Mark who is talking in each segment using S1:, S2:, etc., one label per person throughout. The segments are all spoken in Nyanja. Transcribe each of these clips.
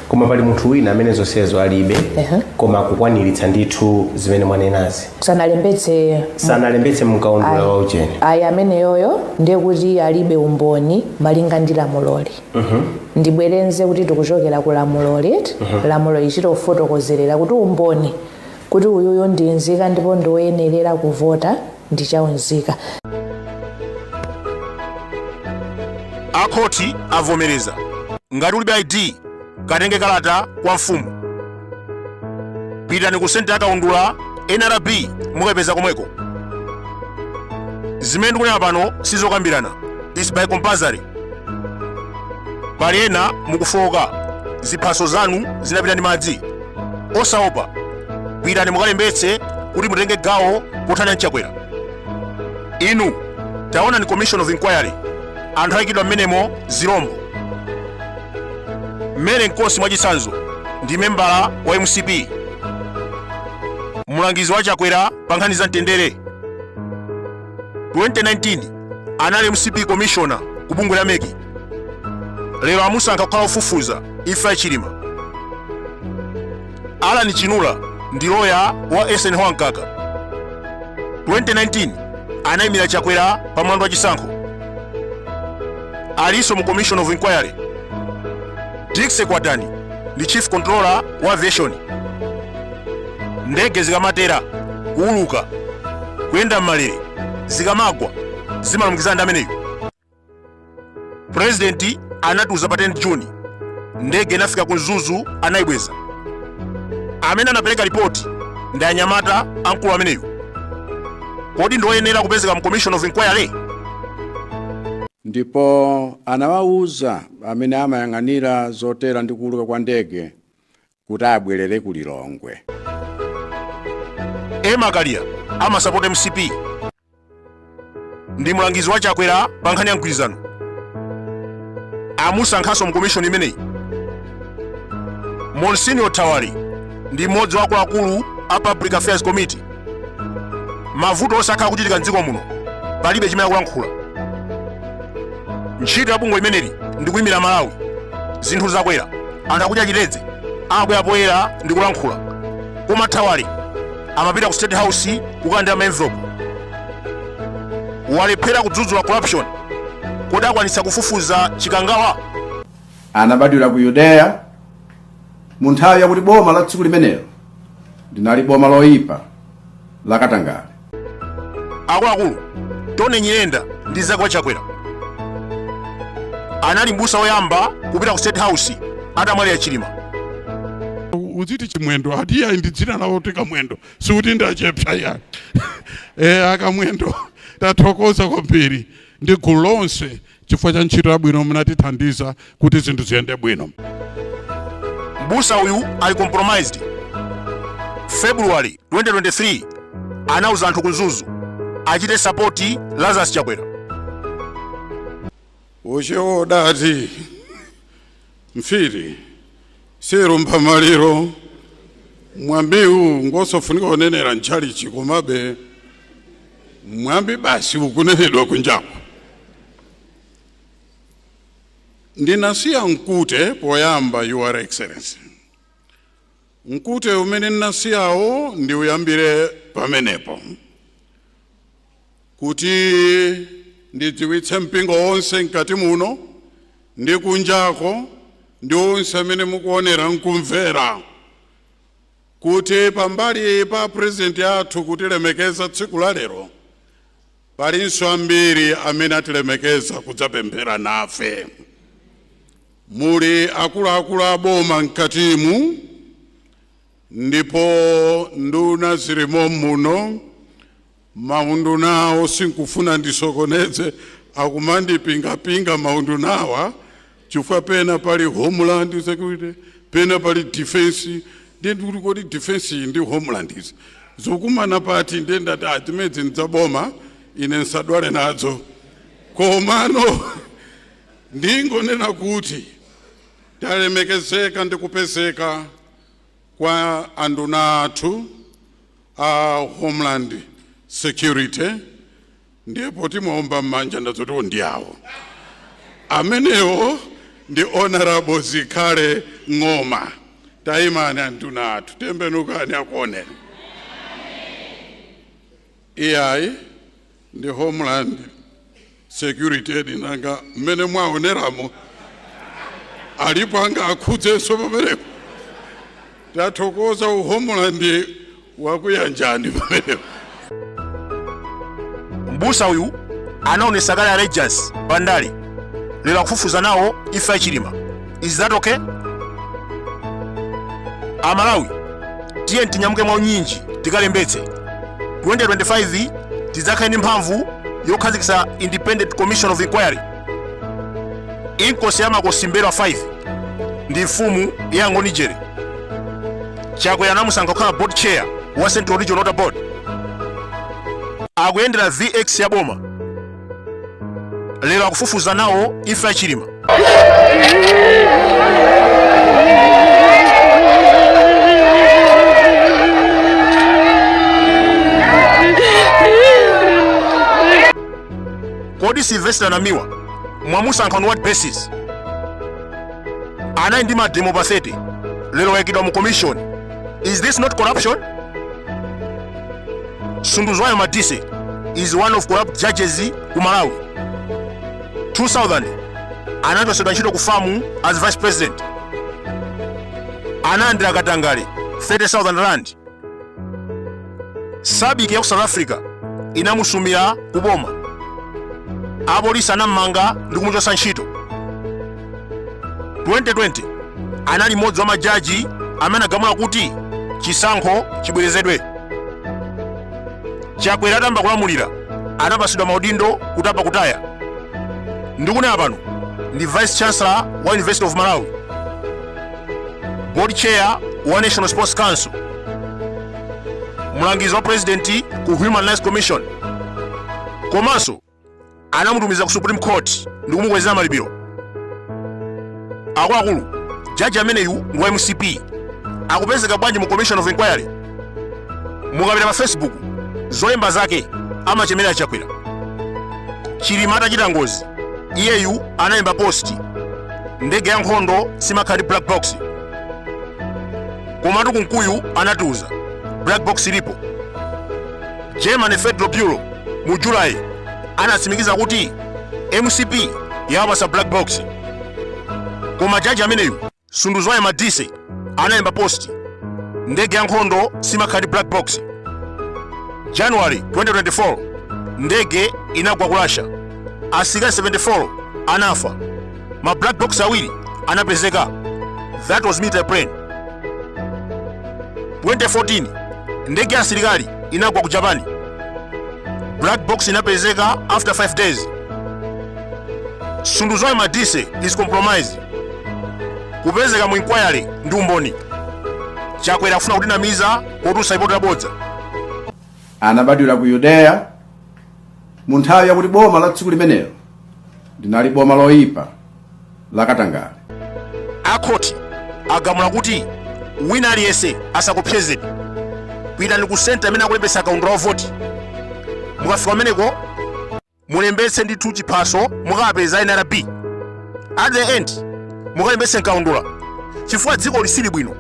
S1: koma pali munthu wina amene zonsezo alibe Ehe. koma akukwaniritsa ndithu zimene mwanenazi sanalembetse sanalembetse mkaundula wa ujeni ayi ameneyoyo ndiye kuti alibe umboni malinga ndi lamuloli ndibwerenze kuti tikuchokera ku lamuloli eti lamulo lichito kufotokozerera kuti umboni kuti uyuyu ndi nzika ndipo ndiwoyenerera kuvota ndi cha unzika. a khoti avomereza ngati ulibe id katenge kalata kwa mfumu pitani ku senta yakaundula nrb mukayipeza komweko zimene ndikunena pano sizokambirana is by compulsory pali ena mukufowoka ziphaso zanu zinapita ndi madzi osaopa pitani mukalembetse kuti mutenge gawo pothana ndi chakwera inu taonani commission of inquiry anthu ayikidwa mmenemo zirombo mary nkosi mwachitsanzo ndi membala wa mcp mulangizi wa chakwera pa nkhani za mtendere 2019 anali mcp commissioner ku bungwe la meki lero amusankha kukhala ofufuza imfa ya chilima Allan Chinula ndi loya wa Eisenhower Mkaka. 2019 anayimira Chakwera pa mlandu wa chisankho. Alinso mu Commission of Inquiry. Dixie Kwatani ndi Chief Controller wa Aviation. Ndege zikamatera kuuluka kuyenda m'malere zikamagwa zimalumikizana ndi ameneyu. purezidenti anatiuza pa 10 juni ndege inafika ku mzuzu anayibweza amene anapereka ripoti ndi anyamata a mkulu ameneyu kodi ndi oyenera kupezeka mu commission of inquiry ndipo anawawuza amene amayang'anira zotera ndi kuuluka kwa ndege kuti abwerere ku Lilongwe. Emma Kaliya amasapota mcp ndi mlangizi wa Chakwera pa nkhani ya mgwirizano amusankhanso mu komishoni imeneyi. Monsignor Thawale ndi mmodzi wa akuluakulu a Public Affairs Committee mavuto onse akhala akuchitika mdziko muno palibe chimene akulankhula ntchito ya bungwe limeneli ndi kuyimira malawi zinthu zakwera anthu akudya chitedze amabwera poyera ndi kulankhula koma thawale amapita ku state house kukalandira maenvelope walephera kudzudzula corruption kodi akwanitsa kufufuza chikangawa anabadwira ku yudeya mu nthawi yakuti boma la tsiku limenelo linali boma loyipa la katangale akuluakulu Tony Nyirenda ndi mnzake wa Chakwera anali mbusa woyamba kupita ku state house atamwalira chilima udziti Chimwendo ati ayi ndi dzina lawo kuti kamwendo sikuti ndachepsa ayi e, akamwendo tathokoza kwambiri ndi gulu lonse chifukwa cha ntchito yabwino munatithandiza kuti zinthu ziyende bwino mbusa uyu ali compromised february 2023 anauza anthu ku Mzuzu achite sapoti lazarus chakwera uchiodati Mfiti siilumpha maliro. Mwambiwu ngosofunika kunenera m'tchalitchi komabe mwambi basi ukunenedwa kunjaku. Ndinasiya mkute poyamba, Your Excellency. Mkute umene ndinasiyawo ndiuyambire pamenepo, kuti ndidziwitse mpingo wonse mkati muno ndi kunjako, ndi onse amene mukuonera n'kumvera, kuti pambali pa Purezidenti athu kutilemekeza tsiku la lero, Palinso ambiri amene atilemekeza kudzapemphera nafe. Muli akuluakulu a boma m'katimu ndipo nduna zili mom'muno. Maundunawo sindikufuna ndisokoneze, akumandipingapinga maundunawa. chifukwa pena pali homeland security pena pali defense ndiye ndikuti kodi defense iyi ndi homeland zikukumana pati ndiye ndati ah, zimenezi ndi za boma ine ndisadwale nazo komano ndingonena kuti talemekezeka ndi kupezeka kwa anduna athu a homeland security ndiye poti mwaomba mmanja ndadziwa oo ndi awo amenewo ndi honorable zikhale ng'oma tayimani anduna athu tembenukani akuoneni iyayi ndi homeland security ee nanga mmene mwaoneramo alipo angaakhudzenso pamenepo tathokoza uhomeland wakuyanjani pamenepo mbusa uyu anaonesa kale allegiance pandale lero akufufuza nawo imfa ya Chilima is that okay amalawi tiyeni tinyamuke mwa unyinji tikalembetse 2025 tidzakhale ndi mphamvu yokhazikitsa independent commission of inquiry inkosi ya makosi mbelwa 5 ndi mfumu ya angoni jere chakwera anamusankha kukhala board chair wa central region water board akuyendera vx ya boma lero akufufuza nawo imfa ya chilima kodi silvester namiwa mwamusankha on what basis anali ndi mademo pa 30 lero wayikidwa mu commission is this not corruption sunduzwayo madise is one of corrupt judges ku malawi 2000 anachotsedwa ntchito ku FAM as vice president analandira katangale 30000 rand sabiki ya ku south africa inamusumira ku boma apolisi anammanga ndi kumuchotsa ntchito 2020 anali mmodzi wa majaji amene anagamula kuti chisankho chibwerezedwe chakwera atayamba kulamulira anapatsidwa maudindo kutapa kutaya ndikunena pano ndi vice chancellor wa university of malawi board chair wa national sports council mlangizi wa president ku human rights commission komanso anamutumiza ku supreme court ndi kumukwezera malipiro akuluakulu jaji ameneyu ndi wa mcp akupezeka bwanji mu commission of inquiry mukapita pa facebook zolemba zake amachemera chakwera chilima atachita ngozi iyeyu analemba post ndege ya nkhondo simakhala ndi black box komatu kunkuyu anatiuza black box ilipo germany federal bureau mu july anatsimikiza kuti mcp yawapatsa black box koma jaji ameneyu Sunduzwayo Madise analemba post ndege ya nkhondo simakhala ndi black box. January 2024 ndege inagwa ku Russia, asilikali 74 anafa, ma black box awiri anapezeka. That was military plane. 2014 ndege ya asilikali inagwa ku Japan, black box inapezeka after 5 days. Sunduzwayo Madise is compromised. kupezeka mu inquiry ndi umboni chakwera akufuna kutinamiza potulutsa lipoti labodza anabadwira ku yudeya mu nthawi yakuti boma la tsiku limenelo linali boma loyipa lakatangale akhoti agamula kuti wina aliyense asakuopsezeni pitani ku senta imene akulembetsa kaundula wa voti mukafika kumeneko mulembetse ndithu chiphaso mukapeza nrb and mukalembetse mkaundula chifukwa dziko lisili bwino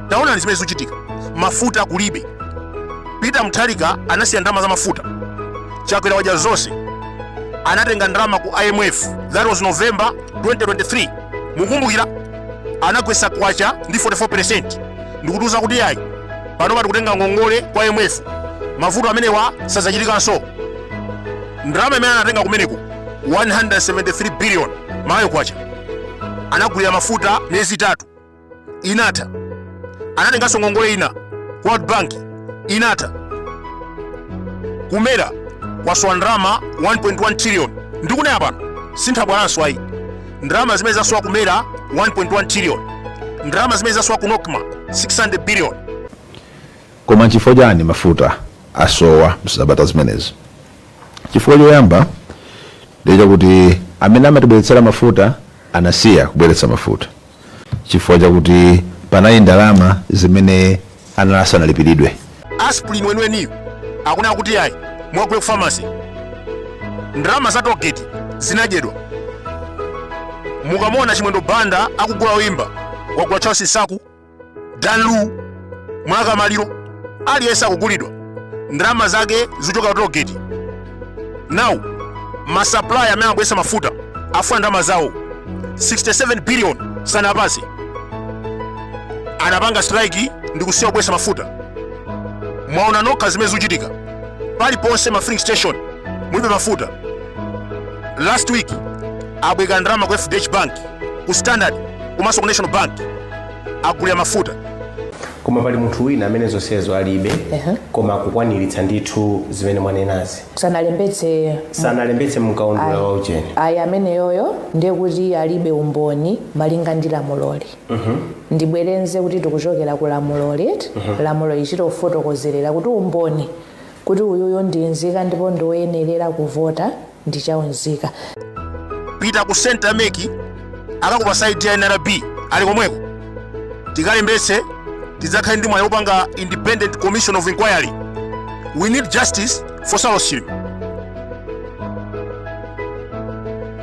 S1: taonani zimene zikuchitika mafuta kulibe peter mutharika anasiya ndalama za mafuta chakwera wadya zonse anatenga ndalama ku imf that was november 2023 mukumbukira anagwetsa kwacha ndi 44 percent ndikutiuza kuti yayi panopa tikutenga ngongole ku imf mavuto amenewa sadzachitikanso ndalama imene anatenga kumeneko 173 billion malawi kwacha anagulira mafuta miyezi itatu inatha anatenganso ngongole ina ku world bank inatha ku mera kwasowa ndalama 1.1 trillion ndikunena pano sinthabwalanso ayi ndalama zimene zasowa ku mera 1.1 trillion ndalama zimene zasowa ku nocma 600 billion Koma nchifukwa chani mafuta asowa msabata zimenezi? Chifukwa choyamba ndiye chakuti amene amatibweretsera mafuta anasiya kubweretsa mafuta chifukwa chakuti panali ndalama zimene anali asanalipiridwe. Asprin weniweniyu akunena kuti ayi mukagule ku pharmacy. Ndalama za toll gate zinadyedwa. Mukamuona Chimwendo Banda akugula oyimba wagula Charles Nsaku, dan lu mlaka maliro aliyense akugulidwa ndalama zake zochoka ku toll gate now ma supplier amene amabweretsa mafuta afuna ndalama zawo 67 billion sanawapatse anapanga strike ndi kusiya kubweretsa mafuta mwaona nokha zimene zikuchitika paliponse ma filling station mulibe mafuta last week abwereka ndalama ku fdh bank ku standard komanso ku national bank agulira mafuta koma pali munthu wina amene zonsezo alibe Ehe. koma akukwaniritsa ndithu zimene mwanenazi sanalembetse sanalembetse mkaundula Ayi. wa ujeni ayi ameneyoyo ndiye kuti alibe umboni malinga ndi lamuloli ndibwerenze kuti tikuchokera ku lamuloli lamuloli likutifotokozera kuti umboni kuti uyuyo ndi nzika ndipo ndi oyenerera kuvota ndi cha unzika. pita ku center mec akakupatsa id ya nrb ali komweko tikalembetse tidzakhale ndi mwayi wopanga independent commission of inquiry we need justice for saulos chilima